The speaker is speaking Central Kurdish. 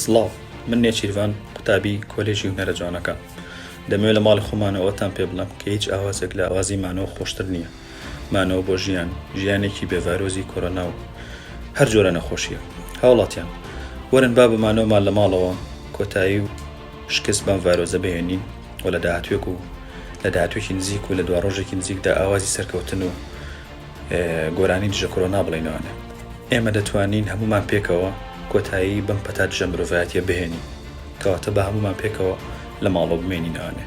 سڵاو من نێچیرڤان قوتابی کۆلێژی و نەرە جوانەکە دەمەوێت لە ماڵی خۆمانەوەتان پێ بڵم کە هیچ ئاوازێک لە ئاوازی مانەوە خۆشتر نییە مانەوە بۆ ژیان، ژیانێکی بێ ڤایرۆزی کۆرۆنا و هەر جۆرە نەخۆشییەک. هاوڵاتیان، وەرن با بە مانەوەمان لە ماڵەوە کۆتایی و شکست بەم ڤایرۆزە بهێنین و لە داهاتوێک و لە داهاتوێکی نزیک و لە دواڕۆژێکی نزیکدا ئاوازی سەرکەوتن و گۆرانی دژە کۆرۆنا بڵێینەوانێ. ئێمە دەتوانین هەموومان پێکەوە کۆتایی بەم پەتا دژە مرۆڤایەتییە بهێنین. کەواتە با هەموومان پێکەوە لە ماڵەوە بمێنینەوانێ.